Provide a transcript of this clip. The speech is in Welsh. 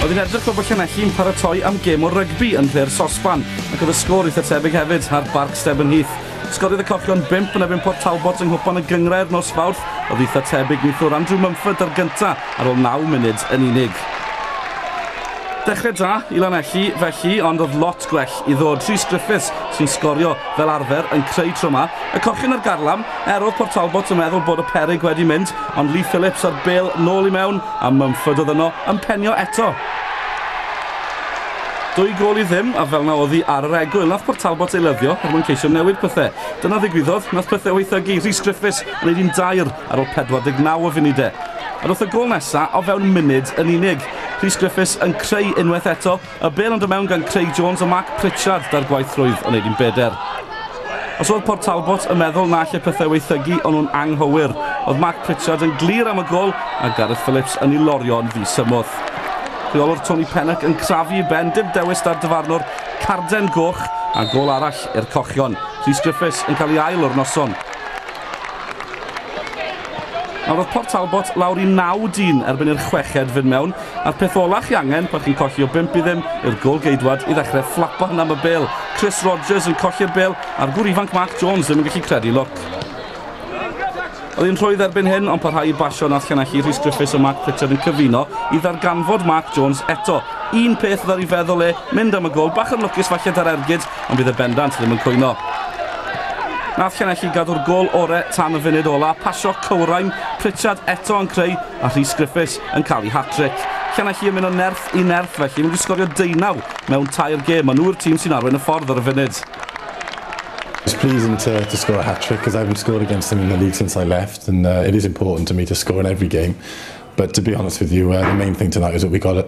Oedd yn edrych fel bod Llanelli'n paratoi am gêm o rygbi yn nhre'r sosban, ac oedd y sgôr eitha tebyg hefyd ar Barc Stebyn Heath. Sgoriodd y Cochion bimp yn ebyn Port Talbot yng Nghwpan y Gyngrair nos Fawrth, oedd eitha tebyg neithiwr Andrew Mumford ar gynta ar ôl naw munud yn unig. Dechrau da i Lanelli felly, ond oedd lot gwell i ddod. Rhys Griffiths sy'n sgorio fel arfer yn creu tro ma. Y Cochion ar garlam, Er oedd Port Talbot yn meddwl bod y peryg wedi mynd, ond Lee Phillips a'r bêl nôl i mewn a Mumford oedd yno yn penio eto. Dwy gol i ddim, a fel na oddi ar yr egwyl, nath Port Talbot ei lyddio er mwyn ceisio newid pethau. Dyna ddigwyddodd, nath pethau waethygu, Rhys Griffiths yn gwneud un dair ar ôl 49 o funudau. Ond wrth y gol nesaf o fewn munud yn unig, Rhys Griffiths yn creu unwaith eto, Y bel yn dod mewn gan Craig Jones a Mark Pritchard da'r gwaith rwydd yn ei dim beder. Os oedd Port Talbot yn meddwl na lle pethau weithygu o'n nhw'n anghywir, oedd Mark Pritchard yn glir am y gol a Gareth Phillips yn ei lorio yn ddisymwth. Rheolwr Tony Pennock yn crafu i ben dim dewis da'r dyfarnwr carden goch a gol arall i'r cochion. Rhys Griffiths yn cael ei ail o'r noson. Nawr oedd Port Talbot lawr i naw dyn erbyn i'r chweched fynd mewn, a'r peth ola chi angen pan chi'n colli o bump i ddim yw'r gol geidwad i ddechrau fflapan am y bel. Chris Rogers yn colli'r bel a'r gŵr ifanc Mark Jones ddim yn gallu credu lwc. Oedd hi'n rhwydd erbyn hyn ond parhau i basio nath llanelli Rhys Griffiths a Mark Pritchard yn cyfuno i ddarganfod Mark Jones eto. Un peth oedd ar ei feddwl e, mynd am y gol, bach yn lwcus falle 'da'r ergyd, ond bydd e bendant ddim yn cwyno. Nath Llanelli gadw'r gol ore tan y funud ola, pasio cywrain, Pritchard eto yn creu a Rhys Griffiths yn cael ei hat-trick. Llanelli yn mynd o nerth i nerth felly, maen nhw wedi sgorio deunaw mewn tair gêm, maen nhw'r tîm sy'n arwain y ffordd ar y funud. It's pleasing to, to score a hat-trick because I haven't scored against them in the league since I left and uh, it is important to me to score in every game but to be honest with you uh, the main thing tonight is that we got a,